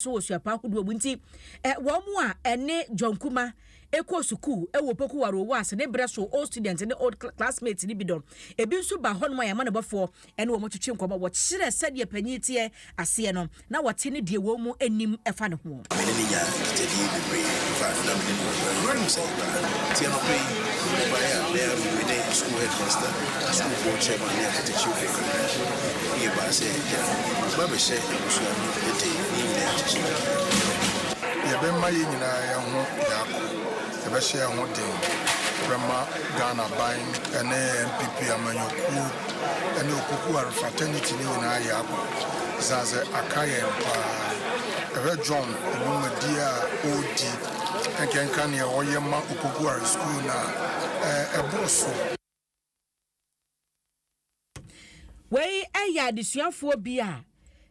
so wɔ suapɔn ahodoɔ mu nti, wɔn a ɛne John Kuma kɔɔ sukuu wɔ Opoku Waro Wase ne berɛ so old student ne old classmate no bi dɔ. Ebi nso ba hɔnom a yɛn amanebɔfoɔ ne wɔn twetwe nkɔmmɔ, wɔkyerɛ sɛdeɛ panin teɛ aseɛ no, na wɔte ne deɛ wɔn mu nim fa ne ho. Me ne no nyaa nkitadie bebree fa na me ne no bɔbɔeɛ no menim sɛ yɛbaa ha. Nti anɔpa yi mebɔbaeɛ a na yɛahu me ne sukuu headmaster, sukuufoɔ chairman ne atetekyerefo kakra. Yɛbaa sɛ yɛbɛba abɛhyɛ abusua no Ete Biblia akyerɛ dɛn? Yɛbɛma yɛn nyinaa yɛn ho biako, yɛbɛhyɛ yɛn ho den, yɛbɛma Ghanaban ne NPP amanyɔkuo ne Opokuware fraternity no nyinaa ayɛ abɔ ɛsiane sɛ aka yɛn paa. Hwɛ John dwumadie a ɔredi, nkenka neɛ ɔyɛ ma Opokuware sukuu no a, ɛboro so. Wei yɛ adesuafoɔ bi a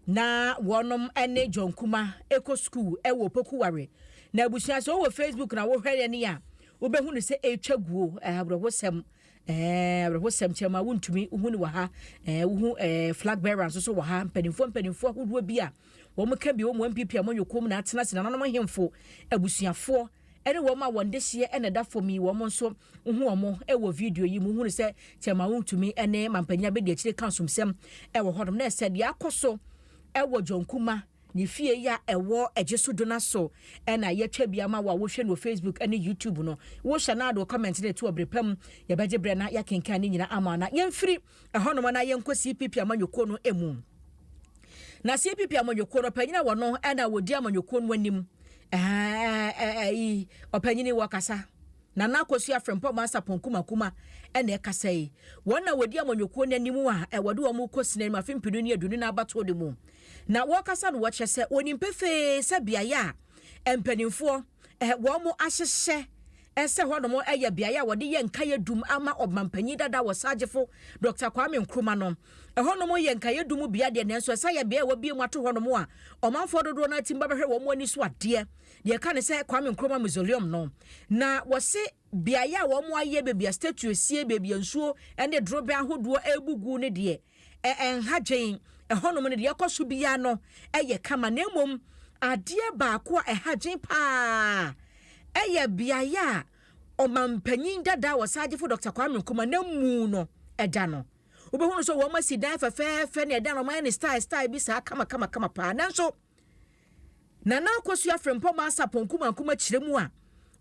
na wɔnom ne John Kuma kɔ sukuu wɔ Opoku Ware. Na abusua sɛ wowɔ Facebook na wohwɛ yɛn a, wobɛhu no sɛ ɛretwa guo, eh, awerɛhosɛm, eh, awerɛhosɛm kyerɛ ma wontumi wohu no wɔ ha, eh, wohu eh, flag bearer nso so wɔ ha, mpanimfoɔ mpanimfoɔ ahodoɔ bi a wɔn ka bi wɔn MPP a wɔn yɛ kɔm na atena se nananom ahemfo abusuafoɔ ɛne wɔn a wɔn dehyeɛ na ɛda fam yi wɔn nso Wohu wɔn wɔ video yi mu. Wohunu sɛ Thelma Wontumi ne Mampanyin Abediakyiri reka asomsɛm wɔ hɔnom. Na ɛsɛ deɛ akɔ so wɔ John Kuma ne fie yi a ɛwɔ Agye so do no so na yɛatwa bi ama wo a wohwɛ no wɔ Facebook ne YouTube no. Wohyɛ no ade wɔ comment no to a, bere pa mu yɛbɛgye berɛ na yɛakenkan ne nyinaa ama wo. Na yɛmfiri ɛhɔnom na yɛnkɔ CPP amanyɔkuo no mu. Na CPP amanyɔkuo no, ɔpanyin a wɔno na wɔdi amanyɔkuo no anim, ɛha, ɛyi, ɔpanyin yi wɔkasa. Nana Akosua Frimpong Mansapong Kumakuma na ɛkasa yi. Wɔn na wɔdi amanyɔkuo no anim a wɔde wɔn rekɔ sini anim afe mpenu ne aduonu nan abatoɔ no mu. Na wɔkasa no wɔkyerɛ sɛ wɔnim pefee sɛ beaeɛ a mpaninfoɔ wɔn ahyehyɛ sɛ hɔ nom yɛ beaeɛ a wɔde yɛ nkaeɛ dum ama ɔmanpanyin dada wɔ Sagyefo Dɔkta Kwame Nkrumah no. Ɛhɔ nom yɛ nkaeɛ dum bea deɛ nanso ɛsan yɛ beaɛ a wɔabue mu ato hɔ nom a ɔmanfoɔ dodoɔ no ara tim ba bɛhwɛ wɔn ani so adeɛ. Deɛ ɛka ne sɛ Kwame Nkrumah Mausoleum no, na wɔse beaeɛ a wɔayɛ baabi a statue sie, baabi a nsuo ne dorobɛn ahodoɔ rebu gu no deɛ, ɛnha dwen. Ɛhɔnom no, deɛ ɛkɔ so biara no yɛ kama, na mmom adeɛ baako a ɛha dwen pa ara yɛ beaeɛ a ɔmampanyin dada a wɔsan gyefo Dɔkta Kwame Nkrumah n'amu no da no. Wobɛhunu sɛ wɔasi dan fɛfɛɛfɛ na ɛdan no, wɔayɛ no style style bi saa kamakamakama pa ara. Nanso. Nana Akosua Frimpong Mansapong Nkrumah Nkrumah kyerɛ mu a,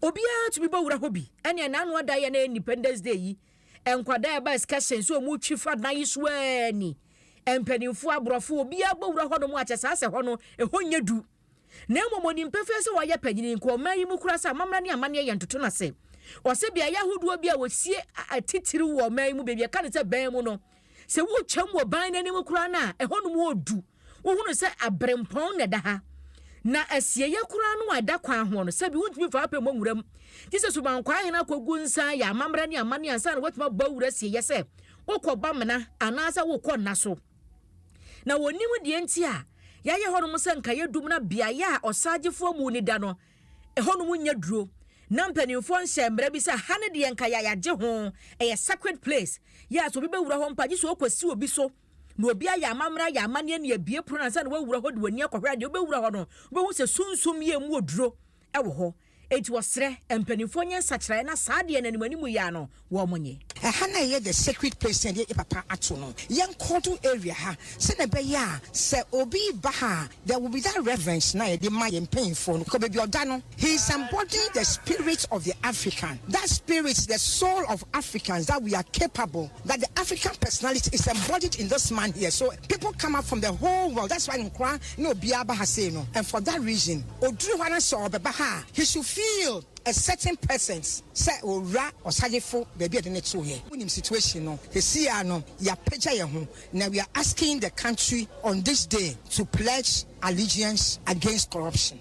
obiara tumi bɔ wura hɔ bi. Ɛneɛ na ano ada yɛ na ɛyɛ Independence Day yi, nkwadaa ɛba excursion sɛ ɔmo twi fa dan yi so aa ni, mpaninfoɔ, aborɔfo, obiara bɔ wura hɔ nom a kyɛ saa sɛ hɔ no ɛhɔ nyɛ du. Na mmom ɔnim pefee sɛ wayɛ panyini, nka ɔman yi mu koraa sɛ amammerɛ ne amanneɛ yɛ ntoto no ase. Ɔse beaeɛ ahodoɔ bi a wɔsie atitiriw wɔ ɔman yi mu baabi a yɛka no sɛ Bɛn mu no, Sɛ wotwam wɔ ban no anim koraa no a, ɛhɔ nom wɔ du. Wohunu sɛ abirempɔn na ɛda ha. Na asieeɛ koraa no a ɛda kwan ho no, sɛbi wontumi mfa apɛ mmɔ nwura mu. Gye sɛ subankwaa hene akɔgu nsa ayɛ amammerɛ ne amanneɛ ansa na watumi abɔ awura asieeɛ sɛ wokɔ Bamena anaasɛ wokɔ nna so. Na wɔnnim deɛ nti a yɛayɛ hɔ nom sɛ nkaeɛ dum na beaeɛ a ɔsaagyefoɔ Muni da no Ɛhɔnom nnya duro. Na mpanimfoɔ nhyɛɛ mmara bi sɛ ha no deɛ nka yɛayagye ho, ɛyɛ sacred place. Yɛ a sɛ obi bɛwura hɔ mpo a, gye sɛ ɔkɔsi obi so. Na obi ayɛ amammerɛ ayɛ amanneɛ na yɛabue pono no ansa na wawura hɔ de w'ani akɔhwɛ a, deɛ wobɛwura hɔ no, wobɛhu sɛ sunsum yea mu oduro wɔ hɔ. Enti wɔsrɛ mpanimfoɔ nyɛ nsakyeraeɛ na saa deɛ no anim anim yi ara no, wɔnye. Ɛha na ɛyɛ the sacred place sɛ yɛde yɛ papa ato no. Yɛnkɔ do area ha sɛnea ɛbɛyɛ a sɛ obi ba ha a there will be that reverence no a yɛde ma yɛn mpanyimfoɔ no because baabi a ɔda no he is embodying the spirit of the African, that spirit, the soul of Africans that we are capable, that the African personality is embodied in this man here so people come up from the whole world that's why nkwadaa ne obiara ba ha sei no and for that reason ɔduru hɔ ara sɛ ɔrebɛba ha a he should feel A certain person sɛ owura ɔsayefo baabi a yɛde no too yɛ. Wonim situation no sesei ara no yɛapagya yɛn ho na we are asking the country on this day to pledge allegiance against corruption.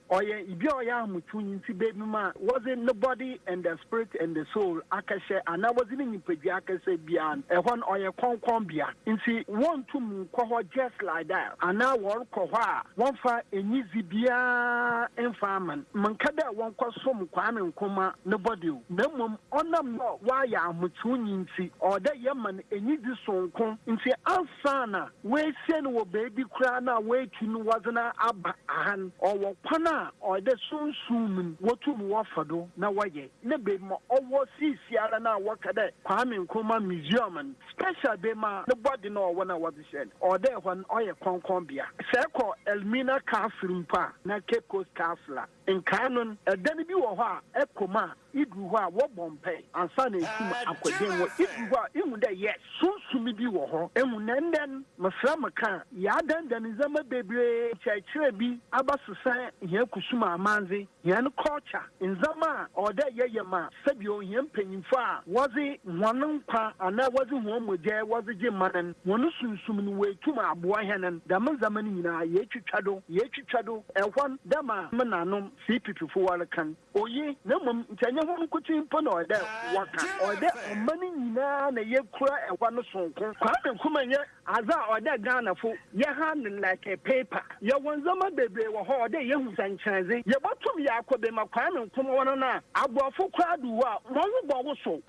Ɔyɛ ibi a ɔyɛ ahotoe ntsi beebinom a wɔdze no body and the spirit and the soul akɛhyɛ anaa wɔdze no nyimpadua akɛhyɛ biara no, hɔ no ɔyɛ krɔnkrɔn bea ntsi wonntum nnkɔ hɔ just like that anaa wɔrokɔ hɔ a wɔmmfa enyidzi biara mmfa mma no. Mennkã dɛ wɔnkɔsom Kwame Nkrumah no body o, na mbom ɔnam dɛ ɔayɛ ahotoe ntsi ɔwɔ dɛ yɛma no enyidzi soronko ntsi ansaana Woesie no wɔ beebi koraa no a woetu no wɔdze no aba ha no, ɔwɔ kwan a ɔyɛ dɛ sunsum mu no wotum wɔfa do na wɔyɛ na beebi ma ɔwɔ siesiara no a wɔka dɛ Kwame Nkrumah Museum no, special beebi ma no bɔdze no ɔwɔ no a wɔdze hyɛ no, ɔwɔ dɛ hɔ no ɔyɛ krɔnkrɔn bea. Sɛ ekɔ Elmina Castle mpo a na Cape Coast Castle a nkaa no no, dan bi wɔ hɔ a ekɔ mu a, Iduru hɔ a wɔbɔ mpae ansa na etum akɔ dɛn mu. Iduru hɔ a ihu dɛ yes, sunsum bi wɔ hɔ. Ehu dɛ ndɛ no, meserɛ mo kã a, yɛadandan ndzɛmba beberee, nkyerɛkyerɛ bi abɛsesã hɛn kusum amandze, hɛn culture, ndzɛmba a ɔwɔ dɛ yɛyɛ ma sɛbio hɛn mpanyimfo a wɔdze hɔn nkwa anaa wɔdze hɔn mogya wɔdze gye man no, hɔn sunsum no woetum aboa hɛn no. Dɛm ndzɛmba no nyina yeetwitwa do, yeetwitwa do, hwɛ hɔn dɛ ma me nãnom CPPfo wɔrekã no. Oye, na mmom nkyɛ ɛnyɛ hɔn nkotsee mpo na ɔwɔ dɛ wɔkã. Ɔwɔ dɛ ɔman nyina na yekura hɔ no soronko. Kwame Nkrumah nnyɛ adze a ɔwɔ dɛ Ghanafo yɛhan no like paper. Yɛwɔ ndzɛmba beberee wɔ hɔ a ɔwɔ dɛ yehu dɛ nkyerɛdze. Yebotum yaakɔ bema Kwame Nkrumah wɔ no no a, aborɔfo koraa do wu a, hɔn ho bɔwosow.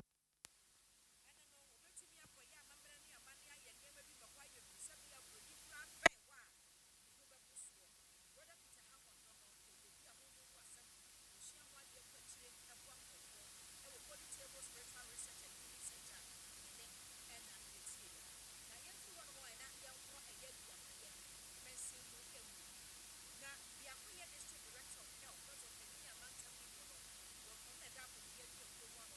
Ɛnde no, wobetumi akɔyɛ amammerɛ ne amanne ayɛ nneɛma bi ma hɔ ayɛ hu sɛ bere a buroni koraa bɛn hɔ a, ne ho bɛpo soɔ. Brɔda Peter Hammond no no yɛ obi a honhom mu asɛm ho osuahu ho adeɛ kɔ akyire boa nkurɔfoɔ wɔ Poly Table Spiritual Research and Healing Center ne ne ɛna fie no mu. Na yɛmfiri hɔnom ɛ na yɛnkɔ ɛyɛ biakoyɛ mɛnsen mu mu. Na biakoyɛ District Director of Health, Dɔtɔ Panin a mantam ne mu no, wɔn na ɛda Akokoyɛ Biakuo mu ano.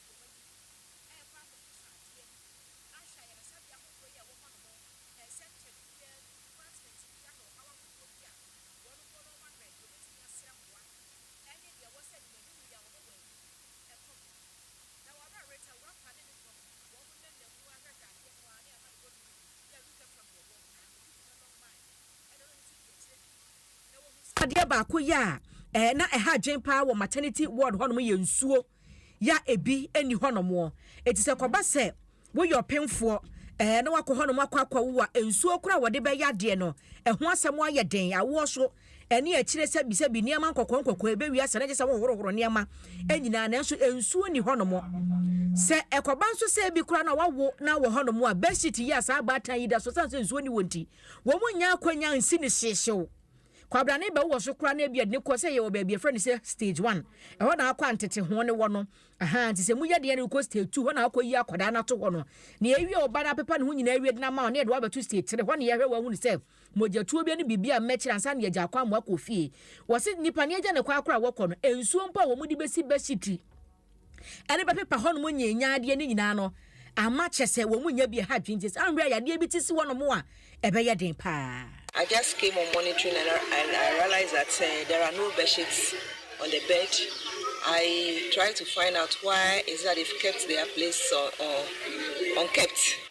Adeɛ baako yɛ a na ɛha adwene paa wɔ maternity ward hɔ nom yɛ nsuo. ya ebi nni hɔnom ɔ. Enti sɛ ɛkɔba sɛ woyɛ ɔpemfoɔ ɛɛ na wakɔ hɔnom akɔ akɔwo a, nsuo koraa a wɔde bɛyɛ adeɛ no, ɛho asɛm ayɛ den. Awoɔ so ne akyire sɛbisɛbi, nneɛma nkɔkɔɔ nkɔkɔɔ, ɛbɛwie asa na kyerɛ sɛ wohohorohoro nneɛma nyinaa nanso nsuo nni hɔnom. Sɛ ɛkɔba nso sɛ ebi koraa na wawo na wɔ hɔnom a, bedsheet yi a saa abaatan yi da so, ɛsiane sɛ nsuo nni hɔ nti, wɔnnya akwannya nsi no hyehyew. Kwabrane bɛwo wɔ so koraa na ebia ɛde no kɔ sɛ yɛwɔ baabi yɛfrɛ no sɛ stage one. Ɛhɔ na akɔ a nteteho no wɔ no. Ahaa nti sɛ mu yɛ den a na wokɔ stage two, hɔ na akɔ yi akwadaa no ato hɔ no. Nea ewie ɔba no apepa ne ho nyinaa awie de no ama wo na yɛde wo abɛto stage three. Hɔ na yɛhwɛ wo ahunu sɛ mogyatuo bi ne biribi a mmɛkyerɛ ansa na yɛagya akɔ amoa kɔ fie. Wɔse nnipa nea agya ne kɔ ara koraa a wɔkɔ no, nsuo mpo a wɔde bɛsi bɛhyetri. ɛde bɛpepa hɔnom nyianyiaa adeɛ no nyinaa no ama kyɛ sɛ wɔn nya bi ɛha dwene nti saa mmerɛ a yadeɛ bi te si hɔnom a ɛbɛyɛ den paa. I just came on monitoring and I realize that there are no bedsheets on the bed I try to find out why is that they've kept their place or unkept.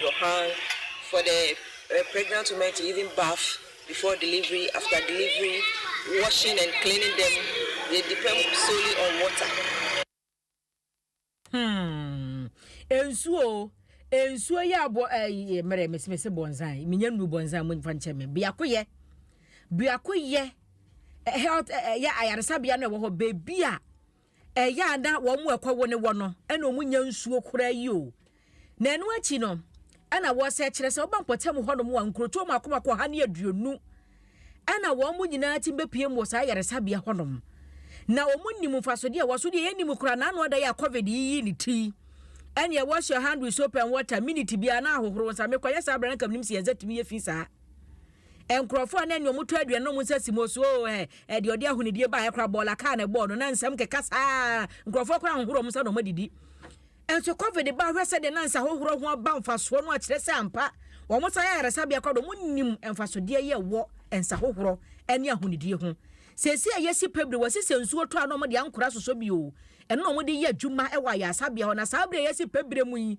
Johan, for the pregnant women to even bath before delivery, after delivery, washing and cleaning them, they depend solely on water. Hmm. Nsuo o. Nsuo yɛ abɔ ɛyi eh, mmerɛ mesi mesi bɔnzan. Minya nuru bɔnzan mu nfa nkyɛn mi. Biako yɛ. Biako yɛ eh, health eh, eh, yɛ ayaresabea na ɛwɔ hɔ beebi a. Ɛyɛ a na wɔn a ɛkɔwo ne wɔ no na wɔnya nsuo koraa yi o. Na ɛno akyi no, ɛna wɔsɛ kyerɛ sɛ woba mpɔtam hɔnom a nkurotoɔ mmaako mmaako ɔha ne aduonu ɛna wɔn nyinaa tim bɛpiem wɔ saa ayaresabea hɔnom. Na wɔn nim mfasodeɛ ɛwɔ so deɛ yɛnim koraa naano ada yɛ a covid yi yi ne ti. Ɛneɛ wash your hand with soap and water, minute biara na ahohoro wo nsa. Mekɔyɛ saa berɛ na nka menim sɛ yɛn nsa tumi yɛ fi saa. Nkurɔfoɔ a na ɛne wɔn tɔ aduane no wɔn nsa si mu ɔso oo ɛ ɛ deɛ ɔde ahonidie baeɛ koraa bɔɔla kaa na ɛbɔɔ no na nsɛm keka saa nkurɔfoɔ koraa nhohoro wɔn nsa na wɔn adidi nso covid ba hwɛ sɛdeɛ na nsa hohoro ho aba mfasoɔ no akyerɛ sɛ ampa wɔn san yɛ ayaresabea koraa de wɔn nim mfasodeɛ yɛ wɔ nsa hohoro ne ahonidie ho seesei a yɛsi pɛ bire wɔsi sɛ nsuo tɔ a na wɔde ankora sosɔ bi oo ɛno na wɔde yɛ adwuma wɔ ayaresabea hɔ na saa bire a yɛsi pɛ bire mu yi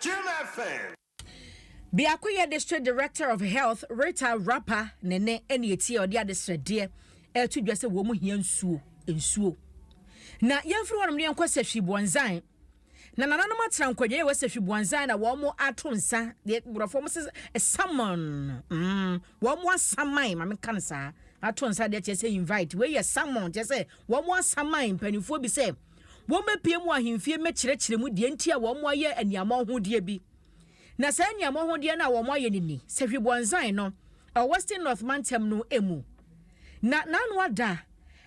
Jim Effen. Biakoyɛ District Director of Health Rita Rapa Nene ɛna etie a ɔde adesrɛdeɛ ɛreto dwa sɛ wɔn hia nsuo, nsuo. Na yɛnfiri hɔnom na yɛnkɔ Sefwi Buanzan. Na nananom atena nkwadwaeɛ wɔ Sefwi Buanzan na wɔn ato nsa, deɛ borɔfo wɔn sɛ summon, mm, wɔn asaman, ma menka no saa, ato nsa deɛ kyerɛ sɛ invite, wei yɛ summon, kyerɛ sɛ wɔn asaman mpanimfoɔ bi sɛ, wɔbɛpue mu ahemfie mmɛkyerɛkyerɛ mu deɛ nti a wɔayɛ aniammɔnhodeɛ bi. Na saa aniammɔnhodeɛ no a wɔayɛ no ni, sɛ Hwebɔnzan no, ɛwɔ Western North mantam no mu. Na n'ano ada,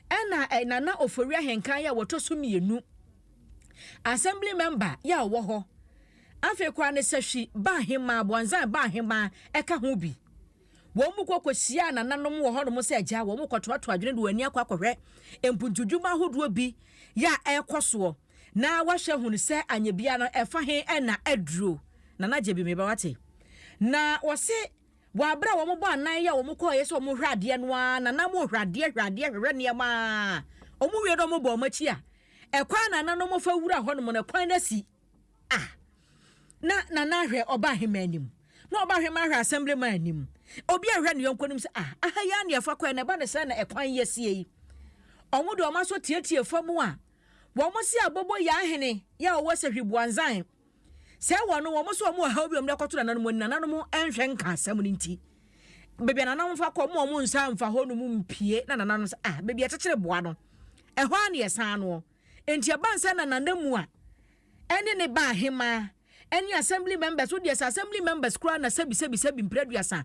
ɛna ɛ, Nana Ofori Ahenkan yɛ a wɔtɔ so mmienu, Assembly Member yɛ a ɔwɔ hɔ, afei koraa no Sahwi Baahemmaa, Bɔnzan Baahemmaa, ɛka ho bi. Wɔn mu kɔ kɔhyiaa nananom wɔ hɔnom sɛ agya, wɔn mu kɔtoatoa adwene de wɔn ani akɔ akɔhwɛ mpuntudwuma ahodoɔ bi yɛ a ɛrekɔ soɔ na wɔahwɛ ahunu sɛ anyɛ biara no ɛfa he na aduro. Nana gye bi me ba wate. Na wɔse wɔ aberɛ a wɔn bɔ anan yɛ a wɔn kɔeɛ sɛ wɔn hwɛ adeɛ no ara nana mo hwɛ adeɛ hwɛ adeɛ hwɛ hwɛ nneɛma ara wɔn wie na wɔn bɔ wɔn akyi a ɛkwan a nananom fa wura hɔnom no ɛkwan no asi Ah! Na Nana ahwɛ ɔbaahemaa anim, na ɔbaahemaa ahwɛ asɛmbleman anim. Obi ahwɛ ne yɔnko anim sɛ, ah, aha yi ara na yɛfa kɔɛ na ɛba ne sɛ na ɛkwan yi asie yi. Wɔn de wɔn aso tietie fam a, wɔn se abobo yɛ ahene yɛ a ɔwɔ sahwi buanzan. Sɛ wɔn, wɔn se wɔn wɔ haw bi a wɔn de akɔto nananom ani, nananom nhwɛ nka asɛm no nti. Baabi a nananom fa kɔ, wɔn wɔn nsa mfa hɔnom mpie, na nananom sɛ, ah, baabi a yɛkyekyere boa no, ɛhɔ ara na yɛsan noɔ. Enti ɛbaa sɛ na Nana Mua ne ne ba Ahemaa ne Assembly members, wo deɛ sɛ Assembly members koraa na sɛbi sɛbi sɛbi mprɛduasa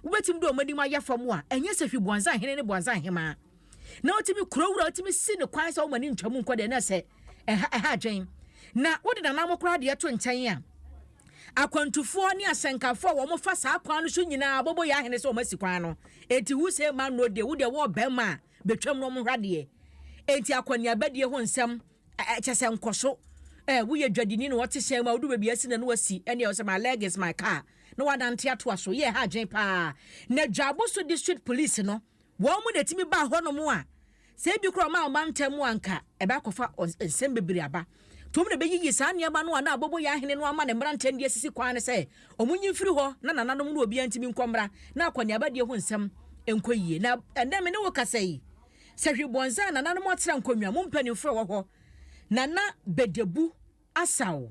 wobɛtumi de wɔn anim ayɛ fam a, ɛnyɛ sɛ hwi Buanza Hene ne Buanza Ahemaa na wotumi kuro wura wotumi si ne kwan sɛ wɔn ani ntwa mu nkɔ deɛ na sɛ ɛha ɛha adwen na wode nanamo koraa deɛ to nkyɛn a akwantufoɔ ne asɛnkafoɔ a wɔn fa saa kwan no so nyinaa bobo yɛ ahene sɛ wɔn asi kwan no enti who say man no deɛ wo deɛ wɔɔ bɛrima a betwam na wɔnhwɛ adeɛ. Enti akɔneabadie ho nsɛm, ɛ, kyerɛ sɛ nkɔso, ɛ, woyɛ dwadini na wɔte hyɛn mu a, wodu baabi a asi na na wasi, ɛnneɛ ɛwɔ sɛ my leg is my car, na woanante atoa so. Yɛɛ ha adwene pa ara. Na Dwaboso District Police no, wɔn na ɛtumi baa hɔnom a, sɛ ebi koraa wɔmaa wɔn ba ntɛm a, anka ɛbɛakɔfa ɔn, nsɛm bebree aba. Tuom na beyiyi saa nneɛma no a na Aboboyaa Hene no ama ne mmeranteɛ no de asisi kwan no sɛ wɔnyi mfiri hɔ na nananom no obiara ntumi nkɔ mmra na akɔneabadie ho nsɛm nkɔ yie. Na ɛnnɛ me ne wo kasa yi, sɛ hwe bɔnza a nananom atra nkonnwa mu mpanimfoɔ a ɛwɔ hɔ, Nana Bedebu Asau,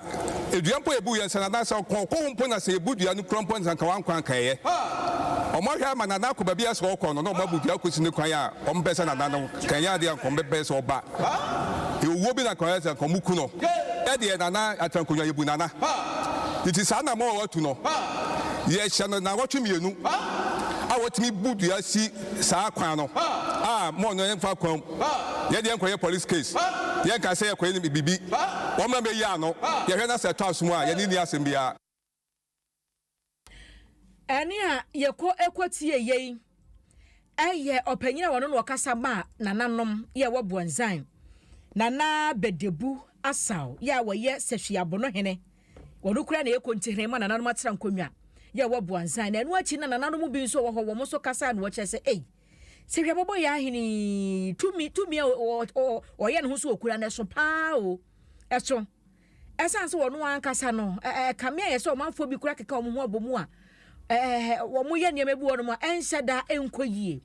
Dua mpo yɛbu yɛ nsa nanaa sɛ ɔkɔn ɔkɔ hɔ mpo na sɛ yɛbu dua no kura mpo ansa nka wankɔ anka ɛyɛ wɔn ahwɛ ama nanaa akɔ baabi a sɛ ɔkɔ no na wɔn abu dua akosi ne kwan a wɔn pɛ sɛ nanaa no ka ɛnyɛ adeɛ a nka wɔn bɛpɛ sɛ ɔba yɛ owuo bi na nka wɔyɛ sɛ nka wɔn ku no yɛ deɛ nanaa atra nkonnwa yɛbu nanaa nti saa na mɔ ɔtu no yɛ hyɛ no naawɔtwe mmienu a wɔtumi bu dua si saa kwan no a mɔ no ɛmfa kwan Yɛ deɛ nkɔyɛ police case Yɛ nkae sɛ yɛkɔyɛ no bibi Wɔn mmra mmɛyi ano Yɛhwɛ na sɛ ɛtɔ asom a Yɛne nni asɛm biara. Ɛnne a yɛkɔ kɔ tie yei yɛ ɔpanyin a ɔno na ɔkasa maa nananom yɛ ɛwɔ Buanzan, Nana Bedebu Asau yɛ a ɔyɛ Sefwi Abono hene. Ɔno koraa na ɛyɛ kontihren ma nananom atena nkonnwa yɛ ɛwɔ Buanzan. Na ɛno akyi no nananom bi nso wɔ hɔ wɔn nso kasae na wɔkyerɛ sɛ ei, Sɛ hwɛ bɔbɔ yɛ ahene yi tumi tumi a ɔyɛ ne ho so okura no ɛso paa o ɛso ɛsan sɛ wɔn ankasa no ɛkame ayɛ sɛ ɔmanfoɔ bi kura keka wɔn ho abɔ mu a ɛɛ wɔn yɛ nneɛma bi wɔ no mu a ɛnhyɛ da ɛnkɔ yie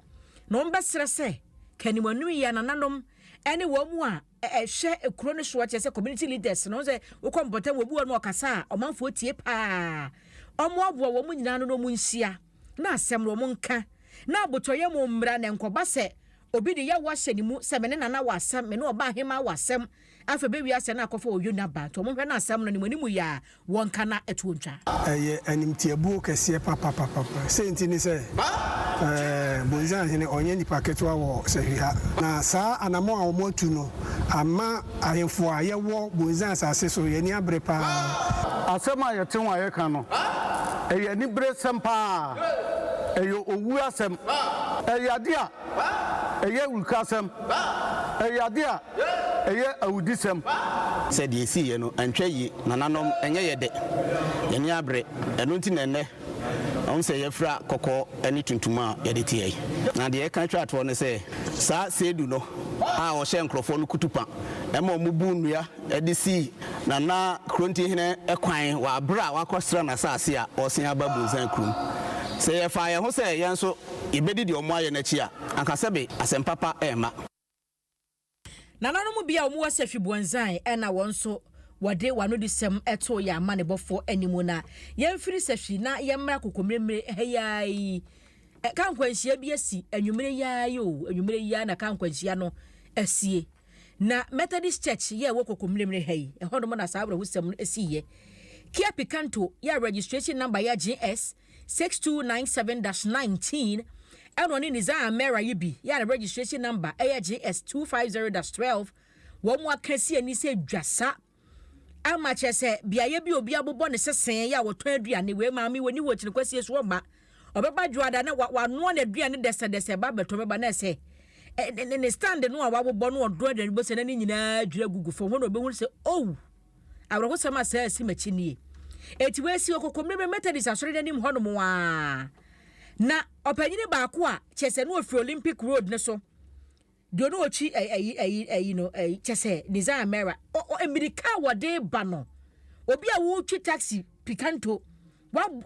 na wɔn bɛsrɛ sɛ kanim anum yɛ anananom ɛne wɔn mu a ɛhwɛ ekuro no soɔ kyerɛ sɛ community leaders no sɛ wokɔ mpɔtam wɔn bi wɔ no ɔkasa a ɔmanfoɔ tie paa wɔn aboa wɔn nyinaa no na wɔn nhyia. na asɛm no wɔn nka, na abotɔyam wɔn mmra, na ɛnkɔba sɛ obi de yaw ahyɛ ne mu sɛ, Me ne Nana wɔ asɛm, me ne ɔbaahemaa wɔ asɛm, afei bɛwie asɛm no akɔfa wɔ Yona ba, nti wɔn nhwɛ na asɛm no ne mo anim yɛ a, wɔnka na ɛtoɔ ntwa. Ɛyɛ animtiabuo kɛseɛ papapapapa. Sei nti ne sɛ, ɛɛ, Bonsam hene, ɔnyɛ nipa ketewa wɔ sahwiha, na saa anammɔn a wɔatu no amma Ahemfo a yɛwɔ Bonsam asase so, yɛn ani abere paa. Asɛm a yɛte ho a yɛka no, ɛyɛ aniberesɛm paa. Ɛyɛ owu asɛm. Ɛyɛ ade a ɛyɛ awurukasɛm. Ɛyɛ ade a ɛyɛ awudisɛm. Sɛ deɛ ɛsiiɛ no antwa yie. Nananom, ɛnyɛ yɛ dɛ. Yɛn ani abere. Ɛno nti na ɛnnɛ Ɛwom sɛ yɛafira kɔkɔɔ ne tuntum a yɛde teɛ yi, na deɛ ɛka twa toɔ ne sɛ, saa Seidu no a ɔhyɛɛ nkurɔfoɔ no kutupa ma wɔbuu nnua de sii Nana Krontinhene kwan wɔ aberɛ a wakɔsra n'asase a ɔresan aba Bunsan kurom. Sɛ yɛfaa yɛn ho sɛ yɛn nso yɛbɛdi deɛ wɔayɛ no akyi a, anka sɛbe asɛm papa remma. Nananom bi a wɔwɔ Sefwi Buanzan na wɔn nso wɔde wɔn anodisɛm too yɛn amanebɔfoɔ anim na yɛmfiri Sefwi na yɛmmra Kokomire-mmire ha yi ara yi. Ka nkwanhyia bi asi anwummere yi ara yi o, anwummere yi ara na ka nkwanhyia no asie. Na Methodist Church yɛ ɛwɔ Kokomire-mmire ha yi, ɛhɔnom na saa awerɛhosɛm no siiɛ. Kia Picanto yɛ a registration number yɛ GS 6297-19, ɛna ɔne Nizar Amera yi bi yɛ a ne registration number yɛ JS 250-12, wɔn aka si ani sɛ dwasa ama kyerɛ sɛ beaeɛ bi obi abobɔ ne sesee yɛ a wɔtɔn aduane wei maame wani wɔ kyini kwasie so ɔba ɔbɛba dwoada na wanoa n'aduane dɛsɛdɛsɛ ba bɛtɔ bɛba na ɛsɛ ne stand no a wabobɔ no ɔdɔn aduane bɔ sɛ na ne nyinaa dwira gugu fam hɔ na ɔbɛhunu sɛ ow Awerɛhosɛm a saa a asi m'akyi nie. Enti wɔasi wɔ Kokomlemle Methodist Asɔre no anim hɔnom ara, na ɔpanyin baako a kyerɛ sɛ na ofi Olympic Road no so de ɔno ɔtwi ayi ayi ayi no kyɛ sɛ Desire Mera mmirika a wɔde ba no obi a wotwi taxi pikanto wɔn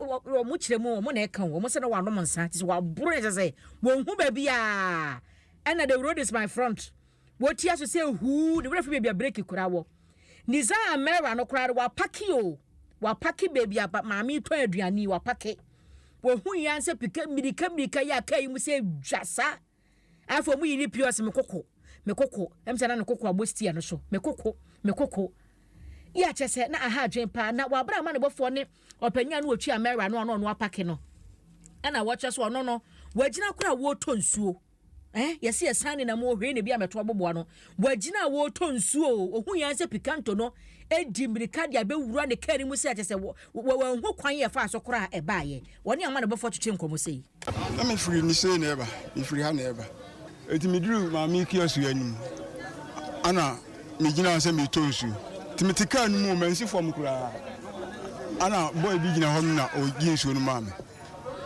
kyerɛ mu wɔn na ɛka wɔn sɛ na wɔanom nsa te sɛ wɔaboro ɛsɛ sɛ wɔn ho baabi a ɛna the road is my front wɔtia so sɛ huu ne werɛ fi baabi a breki kura wɔ. Nizar Merah no koraa no wapake o, wapake baabi a maame yi tɔn aduane yi, wapake. Wɔhui ara sɛ pika mmirika mmirika yɛ a kaa yi mu sɛ dwa sa. Afei wɔyi ne pii ɔsɛ me koko, me koko, ɛm sɛ na ne koko abɔ stia no so, me koko, me koko. Yɛ akyɛ sɛ na aha adwen paa, na wɔabra ama ne bɔfoɔ ne ɔpanyin a na wɔtwi Amera no a na ɔno apake no. Ɛna wɔkyerɛ so ɔno no, wɔagyina koraa wɔretɔ nsuo. Eh, yɛsi ɛsan ne nam wɔ hwee na ebi amɛto aboboa no. Wagyina a wɔretɔ nsuo o. Ohun yɛn sɛ Picanto no edi mmirika de abɛwura ne kaa no mu sɛ te sɛ wɔ, wɔ, wɔanhu kwan yɛ faa so koraa a ɛbaeɛ. Ɔne ama ne bɔfoɔ twetwe nkɔmmɔ sei. Na mefiri Nisei na ɛreba, mefiri ha na ɛreba. Enti meduruu Maame Kiosk yi anim, ɛna megyina hɔ sɛ meretɔ nsuo. Enti mete kaa no mu o, mansi fam koraa. Ɛna boy bi gyina hɔ nom na ɔgye nsuo no maa me.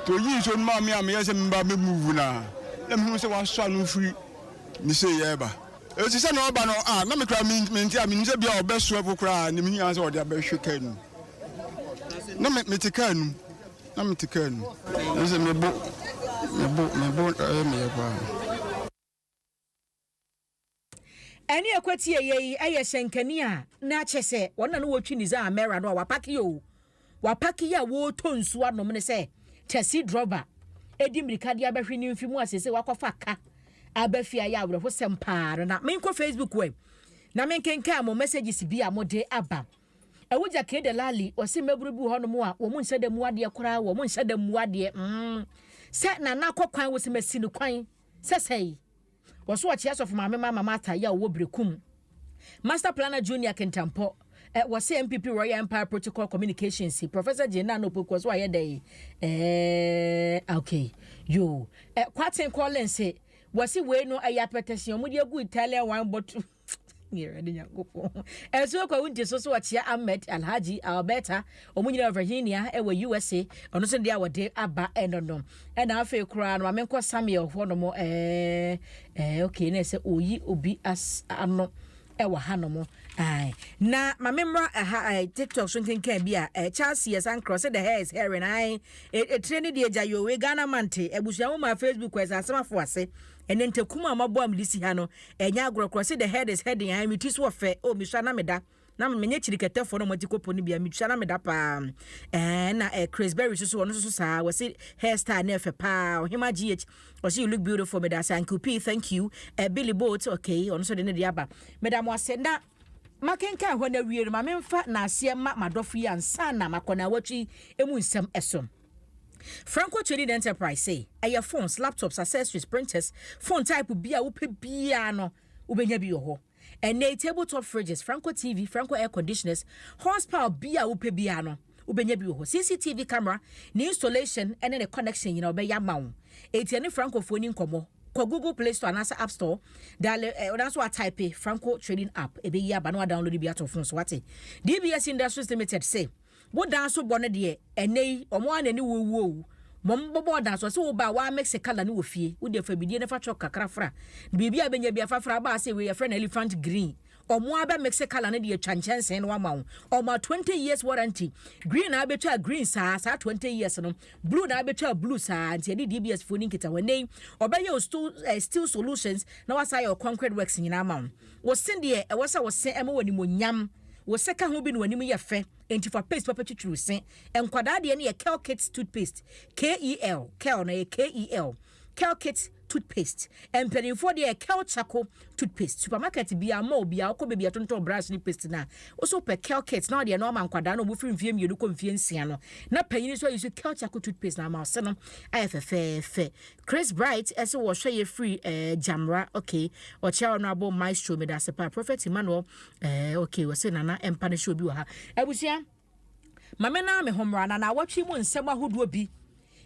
nti oyii nsuo no maa me a meyɛɛ sɛ meba abɛmuvu no a, na mehunu sɛ wasɔ ano firi ne sei reba. Enti sɛdeɛ ɔreba no, ah, na me koraa mente a, menim sɛ bia ɔbɛso ɛpo koraa ne mehiaa sɛ ɔde abɛhwe kaa num. Na me, mete kaa num, na mete kaa num. Ɛsɛ mebo, mebo, mebo ɛyɛ meyɛ paa. Ɛne a kwatie yɛ yi yɛ hyɛnkani a na kyɛ sɛ wɔn na no wɔtwi ne dza mɛra no a wapake yɛ o wapake yɛ a wɔretɔ nsuo anom ne sɛ taxi drɔba ɛdi mmirika de abɛhwe ne mfe mu a sese wakɔfa ka aba fie ayɛ awerɛhosɛm paa no na menkɔ facebook wɛ na menkenkan mo messages bi a mode aba ɛwo gya kee de lali ɔse mmabunu bi wɔ hɔ nom a wɔn nhyɛ da mu adeɛ koraa wɔn nhyɛ da mu adeɛ mm sɛ nana kɔ kwan wɔsi masi no kwan Sɛsɛi, wɔso wɔkye asɔfo maame Mama Martha Yaw wɔ Berekum. Master Planner Junior Kintampɔ, eh, wɔse MPP Royal Empire Protocol Communications, Professor Jane Nana Opoku wɔso ayɛ dɛn, eh, ok, yoo, eh, Kwatsen Collins, wɔse wei no ɛyɛ apɛtɛsen a wɔde agu Italian wine bottle. ɛso kɔ wo nti so so wɔkyea ahmed alhaji alberta ɔmo nyinaa virginia ɛwɔ usa ɔno nso deɛ a wɔde aba ɛno no ɛna afei koraa no ma menkɔ samuel hɔ nom ɛɛ ɛɛ ok na ɛsɛ oyi obi as ano ɛwɔ ha nom ɛɛ na ma memmra ɛha ɛɛ tiktok so nkenkan bi a ɛɛ charles yɛ sankra ɔsɛ the hair is herring ɛɛ etire ne deɛ gya yowe ghana mante abusua mo ma facebook ɛsɛ asɛm afo ase ɛne ntakum a mabɔ a mede si ha no Ɛnyɛ agorɔ koraa, see the head is heading, ae, me ti so ɔfɛ, oh, me sua na me da, na me nyɛ kyirikɛtɛfoɔ na wɔn ati kɔ po no bia, me sua na me da paa, eh, ɛna eh, Chris Berry so so, ɔno so so saa, wɔse hair style no ɛfɛ paa, ɔhema GH, ɔse you look beautiful, meda ase, Uncle P, thank you, eh, Billy Boat, okay, ɔno so de ne de aba, meda mo ase, na makenkan hɔ na wie no, ma memfa naaseɛ ma madɔfo yi ansa na makɔ na awɔtwe yi emu nsɛm ɛso. Franco Traded Enterprise se, Ɛyɛ phones, laptops, accessories, printers, phone type bi a wopɛ biara no, wobɛnya bi wɔ hɔ. Ɛnnɛ yi, table top fridges, Franco TV, Franco air conditioners, horsepower bi a wopɛ biara no, wobɛnya bi wɔ hɔ. CCTV camera, ne installation ne ne connection nyinaa wɔbɛyɛ ama wo. Enti yɛne Francofoɔ ni nkɔmmɔ. Kɔ Google Play Store anaasɛ App Store, daale, eh, anaasɛ wɔataipe Franco Trading App, ɛbɛyi aba na wɔadownload bi ato wo phone so, wate? DBS Industries Limited se, Wo dan so bɔ no deɛ ɛnɛ yi ɔmo ara na ɛne wo wuo o. Mom bɔ bɔɔ dan so ɔse wo ba a wa mix colour no wɔ fie wo deɛ fa bidie no fa chalk kakra fra biribi a bɛnya bia fa fra aba ase wei yɛfrɛ no elephant green ɔmo ara bɛ mix colour no de atwa nkyɛnsee no ama wo ɔmo a 20 years warranty green na abɛtwa green saa saa 20 years no blue na abɛtwa blue saa nti ɛne DBS foɔ ni nkita hɔ ɛnɛ yi ɔbɛyɛ o steel, eh, steel solutions na wasa yɛ o concrete works nyinaa ama wo Wo se deɛ ɛwɔ sɛ wo se ɛma wo animuonyam. Wo se ka ho bi na w'anim yɛ fɛ. Enti fa paste papa twitwiri wo se. Nkwadaa deɛ no yɛ Kel Kids toothpaste. K-E-L, Kel no ɛyɛ K-E-L, Kel Kids toothpaste. Mpanimfoɔ deɛ yɛ Kel Charcoal toothpaste. Supermarket biara, mall biara, wokɔ baabi a yɛtontɔn brush ne paste no a, wo se wopɛ Kel Kids na ɔdeɛ no ɔma nkwadaa no a wɔfiri mfeɛ mmienu kɔ mfeɛ nsia no. Na panin nso ayi so Kel Charcoal toothpaste na ama wo se no ayɛ fɛfɛɛfɛ. Chris Bright se wɔhwɛ yɛ firi eh, Gyamra okay ɔkyea honorable maestro medase paa Prophet Emmanuel eh, okay wɔse nana ɛmpa no hyɛ obi wɔ ha abusua ma me naa me ho mmra na naawɔtwe mu nsɛm ahodoɔ bi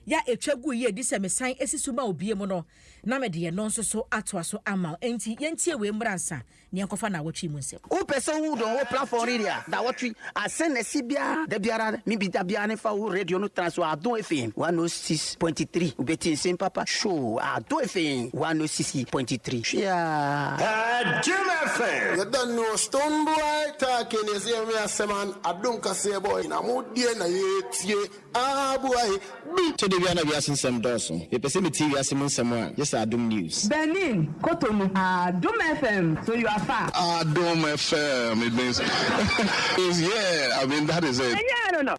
ya ɛtwa gu yi ɛdi sɛ mesan asi so ma obie mu no na mede ɛno nso so atoa so ama enti yɛntie wei mmra nsa Nea ɛnkɔfa nnawɔtwe yi mu nsɛm. Wo pɛ sɛ wo dɔn wo platform radio a nnawɔtwe asen na ɛsi biara da biara ne bi da biara ne fa wo radio no tra so Adom FM 106.3 wo bɛ ti nsem papa show Adom FM 106.3 hwe aa. Adom FM. Yɛda ne wɔ Stonebwoy Turkey ne ɛsɛ yɛnwe asɛm an Adom kaseɛ bɔ nyina mo deɛ na yɛtie. Aah buae bi. Sɛ da biara na wiase nsɛm dɔɔso, mepɛ sɛ metie wiase mu nsɛm a, gye sɛ Adom News. Benin, Cotonou, Adom FM, so you are far. Adom FM it means it's yeah I mean that is it. Ɛnyɛ ɛno no.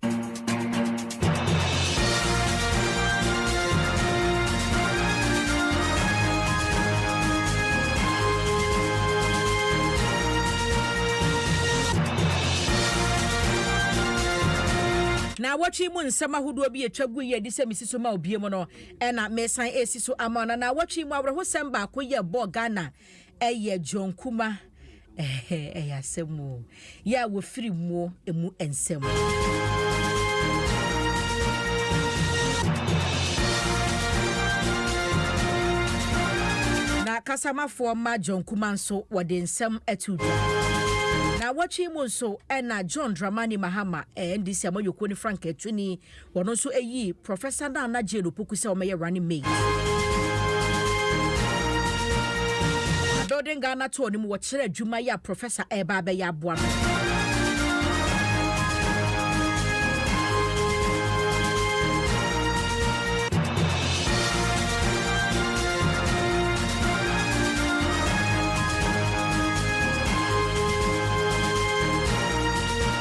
Naawɔtwe yi mu nsɛm ahodoɔ bi a ɛtwa guiɛ adi sɛ mesi so ma obie mu no na mesan resi so ama wo. Na naawɔtwe yi mu awerɛhosɛm baako yɛ bɔɔ Ghana ɛyɛ John Kuma ɛhɛ ɛyɛ asɛm o yɛ a wɔfiri muo ɛmu nsɛm. Na kasamafoɔ ma John Kuma nso wɔde nsɛm ato dwa. Naawɔtwe yi mu nso ɛna John Dramani Mahama NDC amanyɔkuo no frankaatuni, wɔn nso ayii Professor Nana Jane Opoku sɛ ɔmmɛyɛ running mate. Building Ghana tour no mu wɔkyerɛ adwuma yi a Professor ɛreba abɛyɛ aboa no.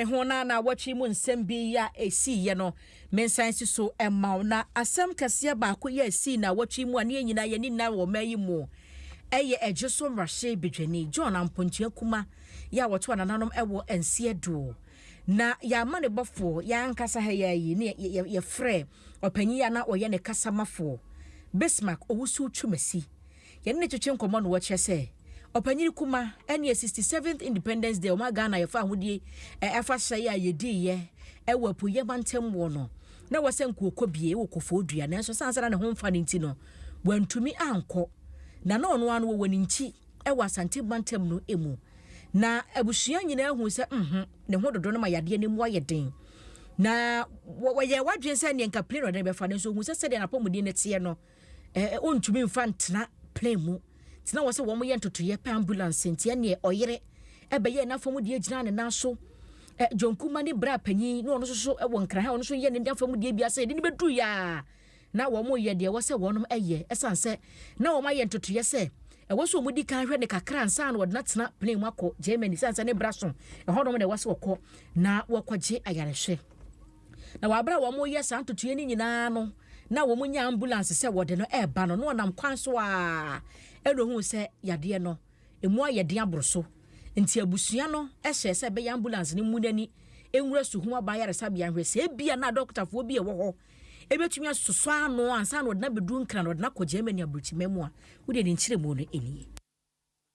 Me ho na naawɔtwe mu nsɛm bi yi a ɛsiiɛ no, mensan si so mma wo. Na asɛm kɛseɛ baako yi a ɛsii naawɔtwe yi mu a na yɛn nyinaa yɛn ani nna wɔ ɔman yi mu yɛ Ɛgye So Mmarahyɛ Badwani John Ampɔnkye Akuma yi a wɔto anananom wɔ Ansi Adoo. Na yɛn amanebɔfoɔ, yɛn ankasa ha yi ara yi, na yɛfrɛɛ ɔpanyin yi a na ɔyɛ ne kasamafoɔ, Bismark Owusu Twumasi, Yɛne no twetwe nkɔmmɔ no wɔkyerɛ sɛ ɔpanyin kuma ɛneɛ 67th Independence Day ɔma Ghana yɛfa ahodie ɛ afahyɛ yi a yɛdii yɛ ɛwɔ apueɛ mantam wɔ no na wɔ sɛ nkoɔkɔ bie ɛwɔ kɔfɔɔ dua nanso sane sɛ na ne ho mfa no nti no wantumi ankɔ na na ɔno ara no wɔwɔ ne nkyi ɛwɔ Asante mantam no ɛmu na abusua nyinaa huu sɛ mm ho ne ho dodo no ma yadeɛ no mu ayɛ den na wɔyɛɛ wadwene sɛ ɛneɛ nka plane na ɔde no bɛfa nanso ɔhuu sɛ sɛdeɛ n'apɔmuden no teɛ no Ɛɛ ontumi nfa ntena plane mu nti na wɔsɛ wɔn yɛ ntotoyɛ pɛ ambulance nti ɛneɛ ɔyere ɛbɛyɛɛ n'afamudeɛ gyinaa ne nan so ɛ John Kuma ne bra panyin na ɔno nso so ɛwɔ Nkraha ɔno nso yɛ ne afamudeɛ bi asɛ yɛde ne bɛduru yaa na wɔn yɛ deɛ ɛwɔ sɛ wɔn ɛyɛ ɛsan sɛ na wɔn ayɛ ntotoyɛ sɛ ɛwɔ sɛ wɔn di kan hwɛ ne kakra nsa na wɔde n'atena plane mu akɔ Germany ɛsan sɛ ne bra so ɛhɔ nom na ɛwɔ sɛ wɔkɔ na wɔkɔgye ayarehwɛ. Na wɔ bere a wɔreyɛ saa ntotoeɛ no nyinaa no, na wɔnya ambulance sɛ wɔde no reba no, na ɔnam kwan so ara ɛna ohuu sɛ yadeɛ no, ɛmu ayɛ den aboro so. Nti abusua no hyɛɛ sɛ ɛbɛyɛ ambulance no mmu n'ani nwura Suhum Aban Ayaresabea nhwɛ sɛ ebia na adɔkotafoɔ bi a ɛwɔ hɔ ɛbɛtumi asosɔ ano ansa na ɔde no abɛduru Nkran na ɔde no akɔ Germany aburokyima mu a. Wodeɛ ne nkyerɛmu no nie.